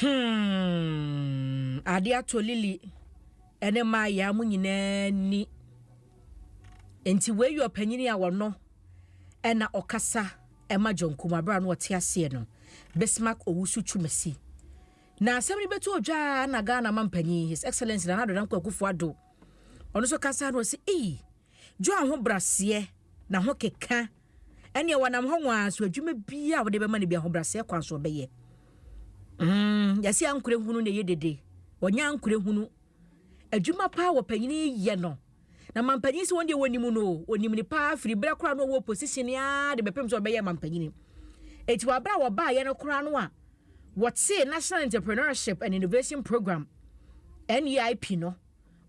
Hmm, ade atɔ Lily ne Maya mo nyinaa ni. Nti wei yɛ ɔpanyini a wɔno ɛna ɔkasa ɛma John Kumabra no ɔte aseɛ no. Bismarck Owusu Twumasi. Na asɛm no bɛtu odwaa na Ghana ma mpanyin His Excellency Nana Adonam Kwakufoɔ Ado. Ɔno nso kasa no ɔsi, ee, Dwo ahobraseɛ na ho keka ɛneɛ wɔnam hɔ nwa ara so adwuma biara a wode bɛma no bi ahobraseɛ kwan so ɔbɛyɛ. Mm, yɛse ankorɛ hunu na ɛyɛ dede, wɔnyɛ ankorɛ hunu. Adwuma paa wɔ panyini yɛ no. Na mampanyin sɛ wɔn deɛ wɔnim no, wɔnim ne paa firi berɛ koraa no wɔwɔ position aa de bɛpem sɛ wɔbɛyɛ mampanyini. Eti wɔ berɛ a wɔbaayɛ no koraa no a wɔtee National Entrepreneurship and Innovation Program, NEIP no,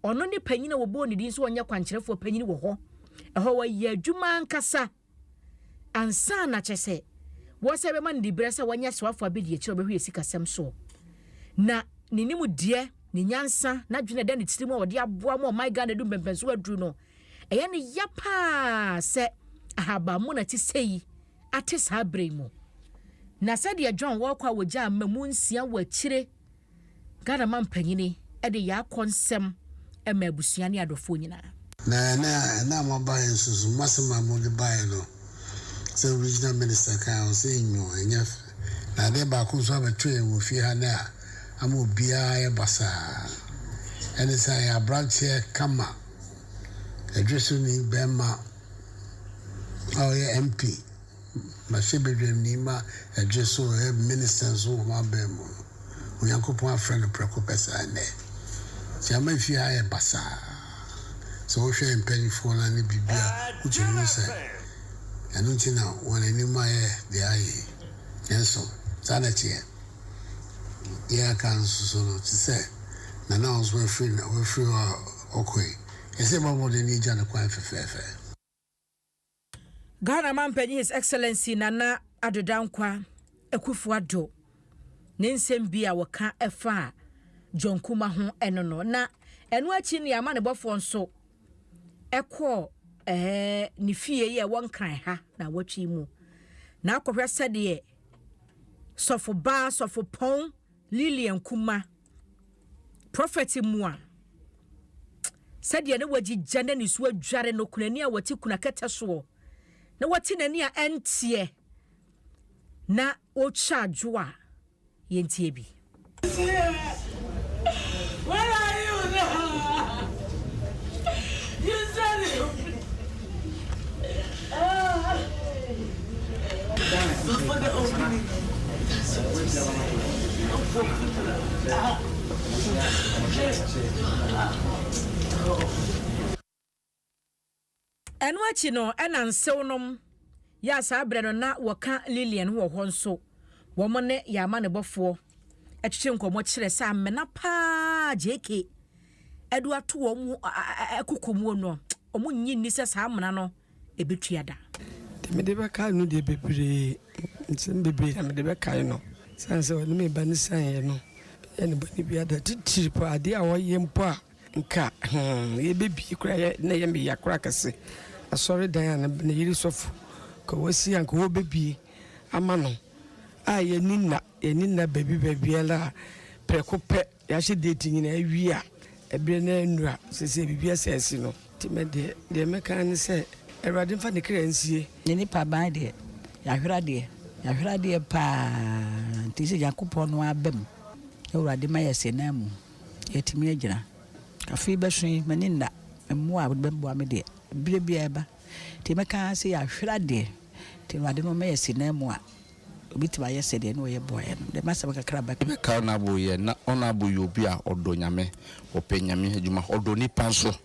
Ɔno ne panyin a wɔbɔɔ ne din sɛ ɔnyɛ kwankyerɛfoɔ panyin wɔ hɔ. Ɛhɔ wɔyɛ adwuma ankasa ansa na kyerɛ sɛ wɔsan bɛma no diberɛ sɛ wɔnyɛ asraafoɔ abɛdiakyire a wɔbɛhwɛ sikasɛm soɔ. Na ne nimdeɛ, ne nyansa, n'adwene a ɛda ne tirim a ɔde aboa ma ɔman Ghana adu mpɛmpɛnsoɔ aduru no, ɛyɛ no ya pa ara sɛ ahabanmono a ɛte sɛ yi ate saa berɛ yi mu. Na sɛdeɛ John Walker a wɔgyaa mmamu nsia wɔ akyire Ghana Mampanyini de Yaa Kɔnsɛm ma abusua ne adɔfoɔ nyinaa. Na ɛnnɛ a ɛnnɛ a moabaeɛ nso so, moasɛm a mode baeɛ no, sɛ Regional Minister ka a, ɔsɛ nnyoo, ɛnyɛ fɛ. Na adeɛ baako nso abɛto yɛn wɔ fie ha nnɛ a ama obiara ayɛ basaa, ɛne sɛ ayɛ aberanteɛ kama, ɛdwesoni barima a ɔyɛ MP, Mmarahyɛbadwamni ma ɛgye so ɛ Minista nso wɔ m'abɛn mu no, Onyankopɔn afrɛ no prɛko pɛ saa nnɛ. Nti ama fie ha ayɛ basaa. Sɛ wohwɛ yɛn mpanimfoɔ no ne biribi a, wotumi hu sɛ ɛno nti na wɔn anim ayɛ deɛ ayɛ yi. Nanso, saa na ɛteɛ. Deɛ a aka nso so no, te sɛ Nana a ɔno nso wafiri na wafiri hɔ a ɔkɔ yi, ɛsɛ yɛbɔ mmɔden na yɛgya no kwan fɛfɛɛfɛ. Ghana Mampanyin His Excellency Nana Addo Dankwa Akuffo Addo ne nsɛm bi a wɔka faa John Kumah ho no no na ɛno akyi no y'amanebɔfoɔ nso kɔɔ ne fie yi a ɛwɔ Nkran ha na awɔtwe yi mu na akɔhwɛ sɛdeɛ Sɔfo Baa Sɔfo Pɔn Lilian Kuma, Prophet Mua, sɛdeɛ na wagyigya na ne su adware no kunani a ɔte kuna kɛtɛ soɔ na wate n'ani a ɛnteɛ na ɔretwa adwo a yɛntie bi. Where are you now? You said it. Ɛno akyi no, ɛna nsewnom yɛ a saa berɛ no na wɔka Lillian ho wɔ hɔ nso. Wɔne yɛn amanebɔfoɔ twetwe nkɔmmɔ kyerɛ sɛ amena pa ara JK. de ato wɔn koko mu no, wɔnnye nni sɛ saa amena no bɛtua da. Deɛ mede bɛkae no deɛ bebree, nsɛm bebree na mede bɛkae no. Ɛsiane sɛ ɔne me ba no sianeeɛ no, meyɛɛ no bɔne biara da. Titire paa, adeɛ a ɔyɛ mpo a nka hmm, yɛbɛbie koraa na ɛyɛ me ya koraa kɛse. Asɔredan a ne yere sɔfo ka wɔasi a nka wɔbɛbie ama no a yɛni nna, yɛni nna baabi baabiara a, prɛko pɛ Yɛahyɛ date nyinaa awie a, ɛberɛ no ara nnura. Seesei biribi asɛ asi no. Nti me deɛ, deɛ mɛka ara ne sɛ, Awurade mfa ne kra nsie. Yɛn nnipa aban deɛ, yɛahwere adeɛ. Yɛahwere adeɛ pa ara. Nti sɛ Nyankopɔn no ara ba mu, na Awurade ma yɛahyɛ no amu, yɛatumi agyina. Afe yi bɛso yi, m'ani nna mmoa a wɔde bɛboa me deɛ. Berɛ biara ɛba. Nti mɛka ara sɛ, yɛahwere adeɛ. Nti Awurade no ɔma yɛahyɛ no amu a. Obetumi ayɛ sɛdeɛ na ɔyɛ boaeɛ no. Deɛ m'asɛm kakra a mɛka. Mɛka Honourable yɛ. Na Honourable yɛ obi a ɔdɔ Nyame, ɔpɛ Nyame adwuma, ɔdɔ nnipa nso.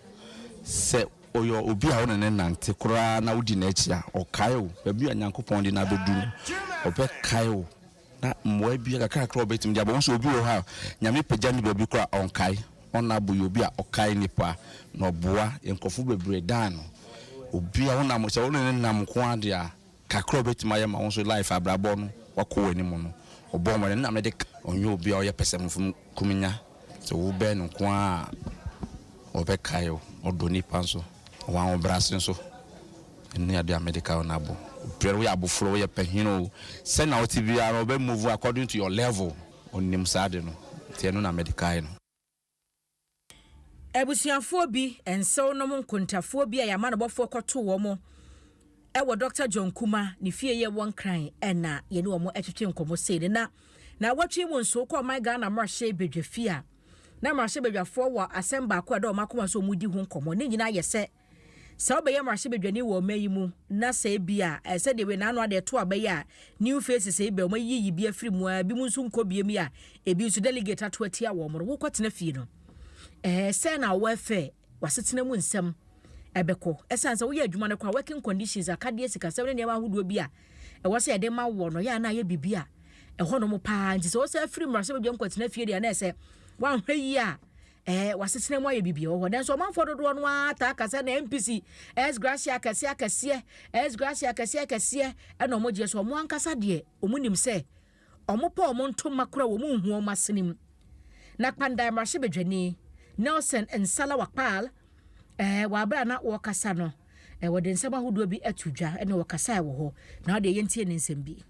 Sɛ ɔyɛ obi a wo ne no nante koraa na wodi n'akyi a, ɔkae wo. Baabi a Nyankopɔn de no abɛdu no, ɔbɛkae wo. Na mmoa biara kakra a ɔbɛtumi de aboa wo. Wohu sɛ obi wɔ hɔ a, Nyame pagya no baabi koraa a, ɔnkae. Honourable yɛ obi a ɔkae nnipa, na ɔboa nkurɔfo bebree dan no. Obi a wonam, sɛ wo ne no nam nko ara deɛ a, Kakra a obetumi ayɛ ma wo nso life abrabɔ no wakɔ w'anim no ɔbɔ mmɔden ɛno na mede ka. Ɔnyɛ obi a ɔyɛ pɛsɛmenfom kumenya sɛ wobɛn no nko ara a ɔbɛkae wo, ɔdɔ nnipa nso, ɔwɔ ahobrɛase nso ɛno ne adeɛ a mede ka ɔno abɔ obiara woyɛ abofra o woyɛ panin o sɛnea wote biara no ɔbɛ move according to your level ɔnim saa ade no nti ɛno na mede kae no. Abusuafoɔ bi, nsew nom nkontafoɔ bi a yɛama no bɔfoɔ kɔtoo wɔn wɔ Dɔkta John Kuma ne fie yɛ wɔ Nkran na yɛne wɔn twetwe nkɔmmɔ sei no na na wɔtwe mu nso kɔ ɔman Ghana mmarahyɛ badwa fie a na mmarahyɛ badwafoɔ wɔ asɛm baako a ɛda wɔn akoma so wɔn di ho nkɔmmɔ ne nyinaa yɛ sɛ Sɛ wobɛyɛ mmarahyɛbadwani wɔ ɔman yi mu na sɛ ebia eh, sɛdeɛ wei n'ano ade ɛto aba yi a new faces ebi a wɔayiyi bi afiri mu a ebinom nso nkɔ biem yi a ebi nso delegate ato atia wɔn no wokɔtena fie no eh, sɛ na wɔafɛ w'asetena mu nsɛm ɛbɛkɔ ɛsiane sɛ woyɛ adwuma no kɔ a working conditions akadeɛ sikasɛm ne nneɛma ahodoɔ bi a ɛwɔ sɛ yɛde ma wɔ no yɛ a na ayɛ biribi a ɛhɔ nom paa nti sɛ wɔsɛ afiri mmarahyɛbadwam kɔtena fie deɛ na ɛsɛ woanhwɛ yie a Ɛɛ, w'asetena mu ayɛ bibia wɔ hɔ. Nanso ɔmanfoɔ dodoɔ no ara taa ka sɛ na MPC ɛs gracia akɛseɛ akɛseɛ, ɛs gracia akɛseɛ akɛseɛ ɛna ɔmo gyeɛ so ɔmo ankasa deɛ ɔmo nim sɛ ɔmo pɛ ɔmo ntoma kora ɔmo nhu ɔmo asene mu. Na Kpandae mmarahyɛbadwani Nelson Nsala Wakpaal ɛɛ wɔ abere a na ɔɔkasa no, wɔde nsɛm ahodoɔ bi ato dwa ɛna ɔkasaɛ wɔ hɔ. Na wo deɛ yɛntie ne nsɛm bi.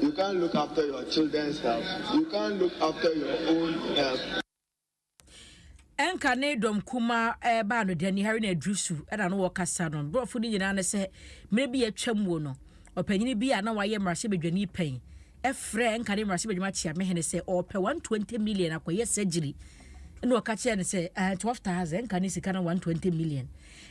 You can't look after your children's health, you can't look after your own health. Ɛnka ne dɔm kumaa ɛreba no dani hari na aduru su ɛna no wɔkasa no borɔfo no nyinaa ne sɛ mmerɛ bi atwam wɔ no ɔpanyini bi a na wayɛ mmarahyɛbadwani pɛn ɛfrɛ ɛnka ne mmarahyɛbadwuma kyeamehene sɛ ɔpɛ 120 million akɔyɛ surgery ɛna ɔka kyerɛ no sɛ uh, 12 thousand ɛnka ne sika na 120 million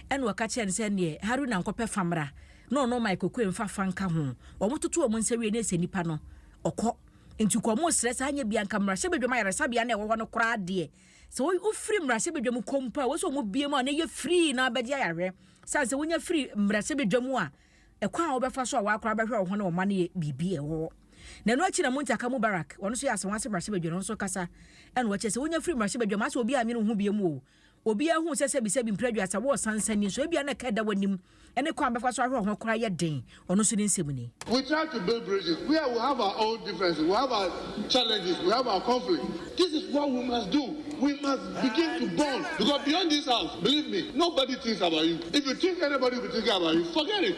ɛna ɔka kyerɛ no sɛ neɛ haruna nkɔpɛ famra na ɔno Mike Okoye mfa fa nka ho. Wɔtoto wɔn nsa wie no ɛsɛ nipa no ɔkɔ. Nti nka wɔsrɛ saa nyɛ bia nka mmarahyɛbadwam ayaresabea no a ɛwɔ hɔ no koraa deɛ sɛ wofiri mmarahyɛbadwam kɔ mpo a wɔsɛ wɔn bie mu a na ɛyɛ free na bɛgye ayahwɛ. Sane sɛ wonya firi mmarahyɛbadwam a ɛkwan a wobɛfa so a wɔakora bɛhwɛ wɔn ho ne wɔn mma no yɛ biribi a ɛwɔ hɔ. Na ɛno akyi na Muntaka Mubarak wɔn nso yɛ asɛm wɔn ase mmarahyɛbadwa no nso kasa ɛna wɔkyerɛ sɛ wonya firi mmarahyɛbadwam asɛ obi annwene wo ho bie mu o. Obiara hu sɛ sɛbisɛbi mprɛduasa wɔ ɔsan nsa ni, nso ebia na ɛka ɛda w'anim ne kwan a bɛfa so ahwɛ wo ho koraa yɛ den, ɔno nso ne nsɛm ni. We try to build bridges where we have our own differences, we have our challenges, we have our conflicts, this is what we must do, we must begin to bond because beyond this house, believe me, nobody thinks about you, if you think anybody will be thinking about you, forget it.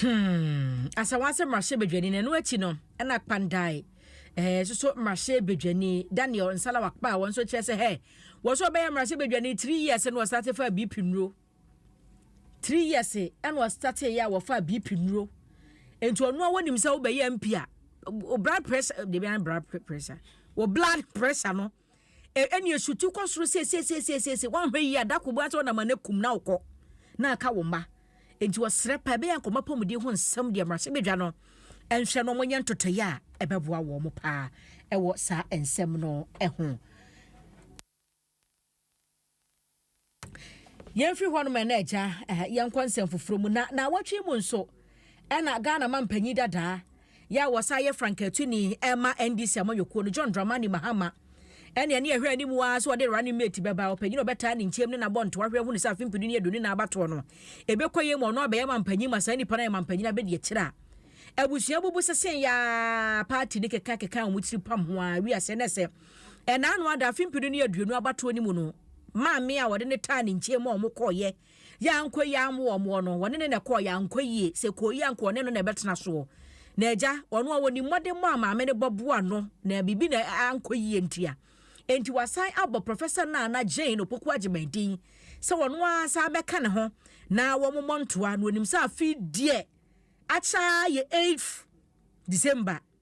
Hmm, Asawa sɛ mmarahyɛbadwani na ɛno akyi no ɛna Kpandae eh, so so mmarahyɛbadwani Daniel Nsala Wakpa a wɔn nso kyerɛ sɛ hɛ wɔn nso ɔbɛyɛ mmarahyɛbadwani three years na wɔsate fa BP nnuro three years ɛna wɔsate yɛ a wɔfa BP nnuro nti ɔno a wɔnim sɛ wobɛyɛ MP a blood pressure debi an blood pressure wɔ blood pressure no E, ɛne esutu kɔ soro siesiesiesiesiesi. Woanhwɛ yie a, da koro bɛasɛ ɔnam ano akum na wokɔ na aka wo mma. Enti ɔsrɛ pa ɛbɛyɛ nkɔmɔ apɔmuden ho nsɛm deɛ mmarahyɛbadwa no nhwɛ na wɔnyɛ ntotoeɛ a ɛbɛboa wɔn paa wɔ saa nsɛm no ho. Yɛmfiri hɔnom ɛna agya yɛnkɔ nsɛm foforɔ mu na na awɔtwe mu nso ɛna Ghana ma mpanyin dadaa yɛ a wɔsan yɛ frankatuni ɛma NDC amanyɔkuo no John Dramani Mahama ɛne ɛne ɛhwɛ anim a sɛ ɔde running mate bɛba ɔpanyin a ɔbɛtaa ne nkyɛm ne nabɔ ntoa hwɛ hunu sɛ afe mpenu ne aduonu na abatoɔ no ɛbɛkɔ yɛ mu ɔno abɛyɛ ma mpanyin ma saa nipa no ayɛ ma mpanyin abɛdi akyire a abusua bubu sese ya party ne keka keka wɔn tiri pam ho a wiase ne sɛ Ɛnna ano ada afe mpenu ne aduonu abatoɔ no mu no, maame a wɔde no taa ne nkyɛn mu a wɔkɔeɛ yɛ ankɔ yie ammo wɔn woɔ no, wɔne no na ɛkɔeɛ ankɔ yie. Sɛ ɛkɔɔ yie a, anka ɔne no na ɛbɛtena soɔ. Na agya, ɔno a ɔnim mmɔdemmɔ a maame no bɔ boa no na biribi na ankɔ yie ntia, enti wasan abɔ Professor Naana Jane Opoku Agyeman din sɛ ɔno ara san bɛka ne ho na wɔmmɔ ntoa, na ɔnim sɛ afe yi deɛ akyɛ ara yɛ eighth December.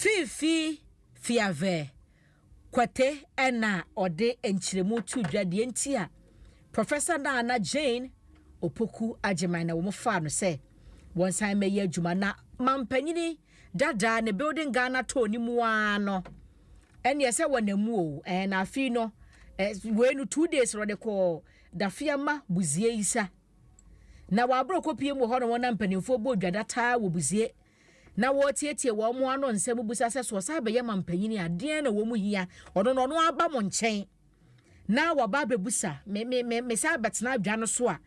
Fiifii Fiavɛ Kwate na ɔde nkyerɛmu too dwa deɛ nti a Professor Nana Jane Opoku Agyeman na wɔfaa no sɛ wɔnsan mmɛyɛ adwuma na mampanyini dadaa ne Building Ghana tɔɔ ne mu ara no ɛnneɛ sɛ wɔnam mu o ɛɛ na afei no wei no two days na ɔde kɔɔ Dafiama Buziaisa Na wɔ aboro kɔpie mu wɔ hɔ no wɔn na mpanimfoɔ bɔ dwada taa wɔ busie na wɔretietie wɔn mo ano nsɛm busa sɛ soɔ saa bɛyɛ ma mpanyini a deɛn na wɔn mu hia ɔno na ɔno aba mo nkyɛn na waba abɛbusa me me me me saa bɛtena adwa no so a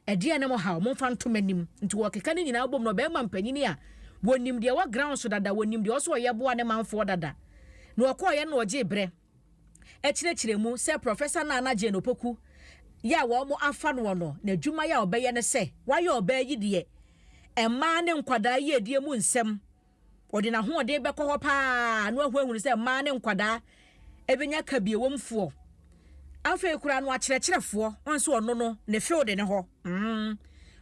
ɛdeɛn na mo haw mo mfa ntom anim nti wɔkeka ne nyinaa bom na ɔbɛma mpanyini a wɔnim deɛ wɔ ground so dada wɔnim deɛ ɔsɛ ɔyɛ boa ne manfoɔ dada na ɔkɔɔyɛ na ɔgye berɛ kyerɛkyerɛ mu sɛ Professor Nana Jane Opoku yi a wɔafa noɔ no, n'adwuma yi a ɔbɛyɛ ne sɛ, wayɛ ɔbaa yi deɛ mmaa ne nkwadaa yiedie mu nsɛm, ɔde n'ahoɔden bɛkɔ hɔ pa ara na wahu ahunu sɛ mmaa ne nkwadaa ɛbɛnya kabiewomfoɔ. Afei koraa no akyerɛkyerɛfoɔ, wɔn nso ɔno no ne field ne hɔ, mm,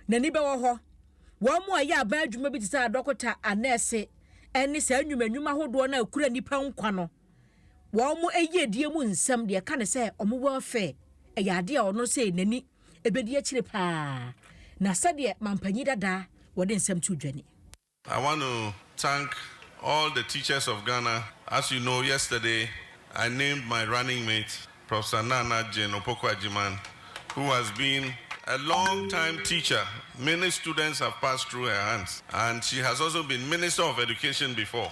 n'ani bɛwɔ hɔ. Wɔn mu a ɛyɛ aban adwuma bi te sɛ adɔkota, anɛɛse, ɛne saa nnwuma nnwuma ahodoɔ no a ɛkura nnipa nkwa no. wɔn yiedie mu nsɛm, deɛ ɛka ne sɛ wɔn welfare, ɛyɛ adeɛ a ɔno sɛ n'ani ɛbɛdi akyire paa, na sɛdeɛ mampanyin dada wɔde nsɛm to dwa ni. I want to thank all the teachers of Ghana, as you know yesterday I named my running mate Professor Nana Jane Opoku Agyemang who has been a long time teacher, many students have passed through her hands and she has also been Minister of Education before.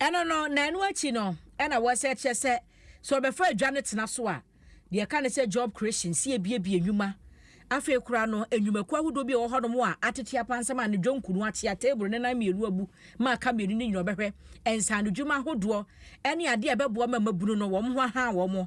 Ɛno no, na ɛno akyi no, ɛna wɔsɛ kyerɛ sɛ sɛ ɔbɛfa adwa no tena so a, deɛ ɛka ne sɛ job creation, sɛ yɛbiebie nnwuma. Afei koraa no, nnwumakuo ahodoɔ bi a ɛwɔ hɔnom a atete apansam a ne dwonku no ate a table no nan mmienu abu ma aka mmienu no nyina ɔbɛhwɛ nsaanodwuma ahodoɔ ne adeɛ a ɛbɛboa ma mmabunu no wɔn ho ahaa wɔn.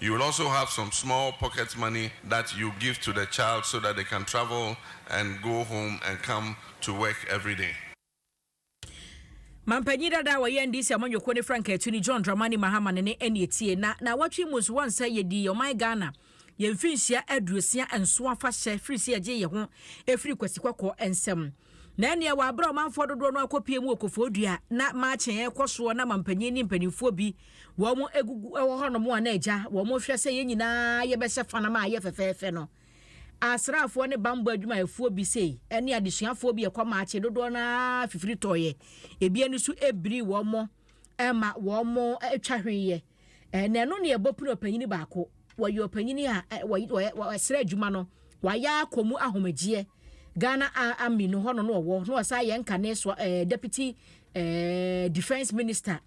You will also have some small pocket money that you give to the child so that they can travel and go home and come to work everyday. Mampanyin dada a wɔyɛ NDC amanyɔkuo no frankaatuni John Dramani Mahama ne ne ɛne etie. Na naawɔtwe yi mu nso wɔn nsa yɛdii ɔman Ghana yɛn mfinhyia aduosia nson afahyɛ firi sɛ yɛgyee yɛn ho firii Kwasi Kɔkɔɔ nsam. Na ɛnneɛ wɔabrɛ ɔmanfoɔ dodoɔ no akɔpue mu wɔ Kofoɔ Dua a na marching rekɔ soɔ na mampanin ne mpanimfoɔ bi wɔn agugu wɔ hɔnom a na agya wɔn hwɛ sɛ yɛn nyinaa yɛbɛhyɛ fanam a ɛyɛ fɛfɛɛfɛ no. Asraafoɔ ne bammɔ adwumayɛfoɔ bi sei ne adesuafoɔ bi a ɛkɔ marching dodoɔ no ara fifiri tɔeɛ, ebi ani so birii wɔn. ma wɔtwa hwee yɛ. Na ɛno na ɛbɔ pene ɔpanyin baako. Wɔyɛ ɔpanyin a wɔsrɛ adwuma no, wayɛ akɔ mu ahomegyeɛ. Ghana Army no hɔ no na ɔwɔ, na ɔsan yɛ nkane so eh, Deputy eh, Defence Minister,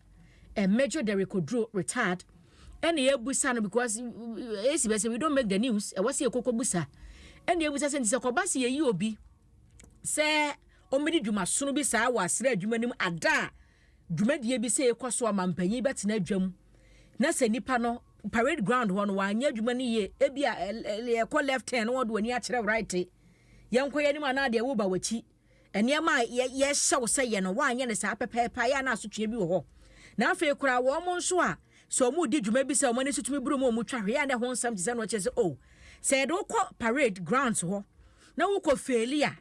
eh, Major Derrick Oduro, retired. Ɛna yɛbusa no because ɛsi bɛ sɛ we don't make the news, ɛwɔ sɛ yɛkɔkɔ busa. Ɛna yɛbusa sɛ nti sɛ kɔba sɛ yɛyi obi sɛ ɔmmɛdi dwumasono bi saa wɔ asrɛ adwuma no mu ada a dwumadie bi sɛ ɛkɔ so a ma mpanyin bɛtena adwam na sɛ nipa no parade ground hɔ no wanyɛ adwuma no yie ebi a ɛkɔ left turn na wɔde w'ani akyerɛ right yɛnkɔ yɛ anim anaa deɛ woba w'akyi nneɛma a yɛhyɛ wo sɛ yɛ no wanyɛ no saa pɛpɛɛpɛ a yɛ a na asotweɛ bi wɔ hɔ na afei koraa wɔn nso a sɛ wɔn di dwuma bi sɛ wɔn ani so tumi buru mu wɔn twa hwee a na ɛho nsɛm te sɛ no kyerɛ sɛ o oh, sɛ yɛde wokɔ parade grounds hɔ na wokɔ failure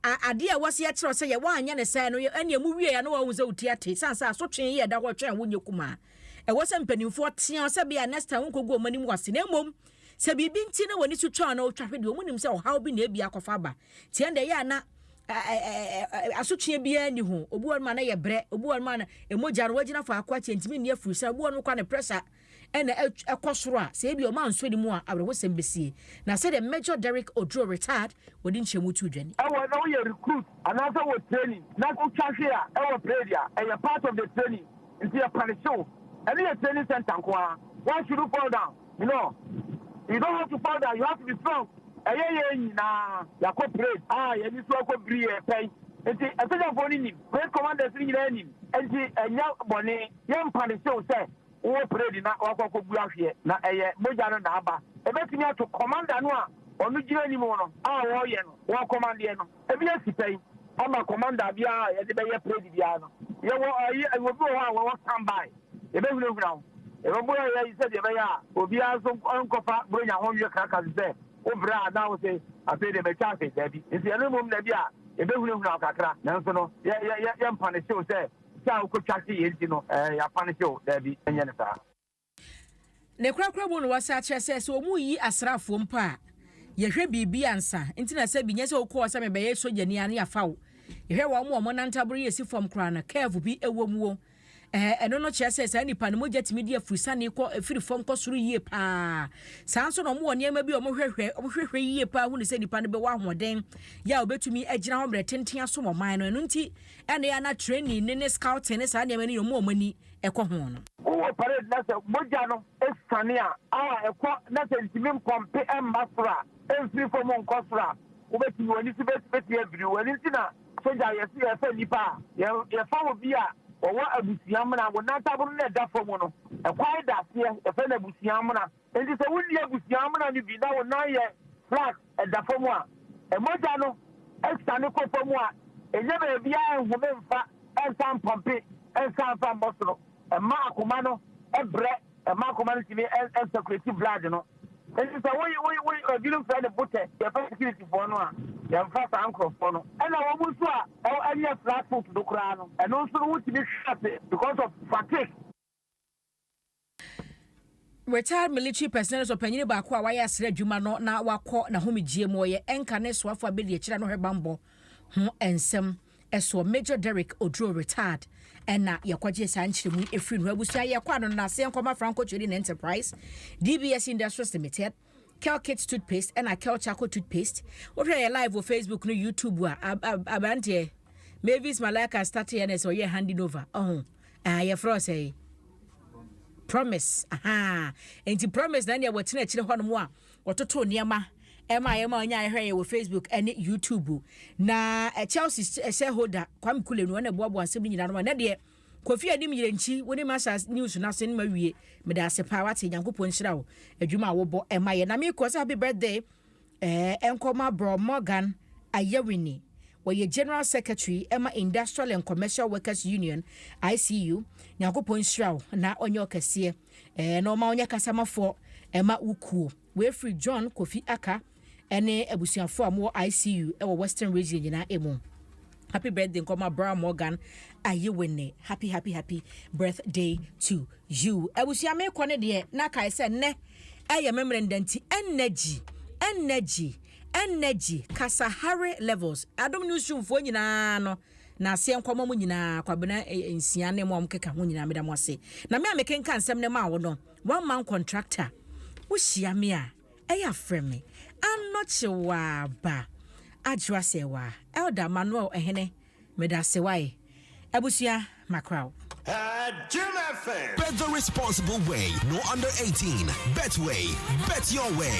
A Ade a ɛwɔ sɛ yɛkyerɛw sɛ yɛ woanyɛ no sɛɛ no, ɛnneɛ muwiei a na wɔahu sɛ wote ate esiane sɛ asotwe yi a ɛda hɔ retwɛn a wonyɛ kumaa. Ɛwɔ sɛ mpanimfoɔ teɛ wo sɛ ebia next time wonkɔgu wɔn anim wɔ ase na mmom sɛ biribi nti na wɔn ani so twa anaa wotwa hwe deɛ, wɔnim sɛ ɔhaw bi na ebia akɔfa aba. Tie no deɛ ɛyɛ a na asotwe biara nni ho. Obi wɔ hɔnom a na ɛyɛ brɛ, obi wɔ hɔnom a na mogya no wagyina faako akyɛ ntumi nni afiri san, obi wɔ hɔnom koraa ne pressure na ɛkɔ soro a, sɛ ebia wɔansɔ ani mu a, awerɛhosɛm besie. Na sɛdeɛ Major Derrick Oduro, retired, wɔde nkyɛnmu too dwa ni. Ɛwɔ na woyɛ recruit anaasɛ wɔ training na wotwa hwe a ɛwɔ parade a, ɛyɛ part of the training nti yɛ punishe wo. Ɛno yɛ training center nko ara. Why should you fall down? No, you don't have to fall down, you have to be strong. Ɛyɛ yɛn nyinaa yɛakɔ parade a yɛn ani so akɔ biri yɛn pɛn nti asogyafoɔ no nim, parade commanders no nyinaa nim nti ɛnyɛ bɔne. Yɛn punishe wo sɛ Wowɔ parade na woakɔ akɔbu ahweɛ na ɛyɛ mogya no na aba. Ɛbɛtumi ato kɔmanda no a ɔno gyina anim no a ɔreyɛ no ɔkɔmandeɛ no. Ɛbi asi pɛn ama kɔmanda biara a yɛde bɛyɛ parade biara no. Yɛwɔ ayi, obi wɔ hɔ a wɔwɔ stand by. Yɛbɛhunahuna wo. Yɛbɛboa yɛn ayi sɛdeɛ ɛbɛyɛ a obiara nso nkɔfa Buronya ho nwe kraka te sɛ wo brɛ a na wose afei deɛ matwa ase. Daabi. Nso yɛno mmom na bi a yɛbɛhunahuna wo kakra nanso no yɛ, yɛ, yɛ, yɛmpanehye wo sɛ Sɛ a wokotwa se yɛ nti no ɛɛ yɛafa no se o, daabi, ɛnyɛ no saa. Ne korakora mu no wɔsan kyerɛ sɛ, sɛ wɔreyi asraafoɔ mpo a, yɛhwɛ biribi ansa. Nti na sɛ bi nyɛ sɛ wokɔ hɔ sɛ mebɛyɛ sogyani a, na yɛafa wo. Yɛhwɛ wɔn a wɔn nantaboro yɛ si fam koraa no, curve bi wɔ mu o, ɛɛ ɛno no kyerɛ sɛ saa nnipa no mogya tumi di afurisane kɔ, firi fam kɔ soro yie pa ara. Saa nso na wɔwɔ nneɛma bi a wɔhwɛhwɛ, wɔhwehwɛ yie pa ara hunu sɛ nnipa no bɛwɔ ahoɔden yɛ a wɔbɛtumi agyina hɔ mmerɛ tenten asom ɔman no. Ɛno nti. ɛnna yɛ na training no ne scouting ne saa nneɛma no yɛ wɔn a wɔn ani kɔ ho no. Wowɔ parade na sɛ mogya no siane a, a ɛkɔ na sɛ ntumi mpɔmpe mma soro a, mfiri fam nkɔ soro a, wobetumi, w'ani so betumi abiriw. Ɛno nti na sogya yɛse yɛfa nnipa a, yɛ, yɛfa wɔ bi a wɔwɔ abusua amena, wɔn nantaboro no ɛda fam no, ɛkwae da aseɛ, yɛfrɛ no abusua amena. Enti sɛ wonni abusua amena no bi na wo nan yɛ flat da fam a, mogya no siane kɔ fam a, ɛnyɛ baabiara nhome mfa nsa mpɔmpe nsa mfa mmɔ soro mma akoma no brɛ mma akoma no tumi nsɛkuleti blood no. Enti sɛ wo wo wo ebinom frɛ no botɛ yɛfrɛ sikiritifoɔ no a, yɛmfa saa nkurɔfoɔ no. Ɛna wɔn nso a ɛnyɛ flat foot no koraa no, ɛno nso no wotumi hwe ase because of fatigue. Retired military personnel nso ɔpanyin baako a wayɛ asra adwuma no na wakɔ n'ahomegyeɛ mu ɔyɛ ɛnka ne soafo a bɛdi akyire ano hwɛbammɔ ho nsɛm soɔ Major Derrick Oduro retired ɛna yɛkɔgyee saa nkyerɛmu yi ɛfiri no abusua yɛkɔ ano no n'aseɛ nkɔma Franco Trading Enterprise DBS Industries Limited Kelkit toothpaste ɛna Kel charcoal toothpaste. Wohwɛ yɛ live wɔ Facebook no YouTube a abranteɛ Mavis Malaka start yɛ na sɛ ɔyɛ handing over. Ɔho. Ah, yɛ frɛ sɛ promise. Aha. Enti promise na nea wɔtena akyire hɔ no mo a wɔtoto nneɛma ɛma yɛ ma ɔnya ɛhwɛ yɛ wɔ Facebook ɛne YouTube. Na Chelsea shareholder Kwame Kule no na ɛboaboa asɛm no nyinaa no ma na deɛ Kofi anim yerɛ nkyi wo ne masters news no asen ma wie meda ase paa wate nyankopɔn nhyira wo adwuma a wo bɔ ɛma yɛ na me kɔ sɛ happy birthday ɛɛ ɛnkɔ ma brɔ Morgan Ayawini ɔyɛ general secretary ɛma industrial and commercial workers union ICU nyankopɔn nhyira wo na ɔnyɛ ɔkɛseɛ ɛɛ na ɔma ɔnyɛ kasamafoɔ ɛma wo kuo wei firi John Kofi Aka Ɛne abusuafoɔ a mowɔ ICU wɔ western region nyinaa mu. Happy birthday nkɔma bra Morgan Ayewene happy happy happy birthday to you. Abusua mekɔ ne deɛ na kae sɛ nnɛ ɛyɛ me mmerɛ nda nti energy energy energy kasahare levels adom newsroomfoɔ nyinaa no na aseɛ nkɔma mo nyinaa kwabena eh, eh, nsia ne mo a mokeka ho nyinaa meda mo ase na me a mekenka nsɛm ne maa wo no one man contractor wohyia me a Ɛyɛ a frɛ me anɔkye waa ba adwoa sɛ waa Elder Manuel Ɛhene medase wae abusua makra wo. Jim FM. Bet the responsible way, no under 18. Betway, bet your way.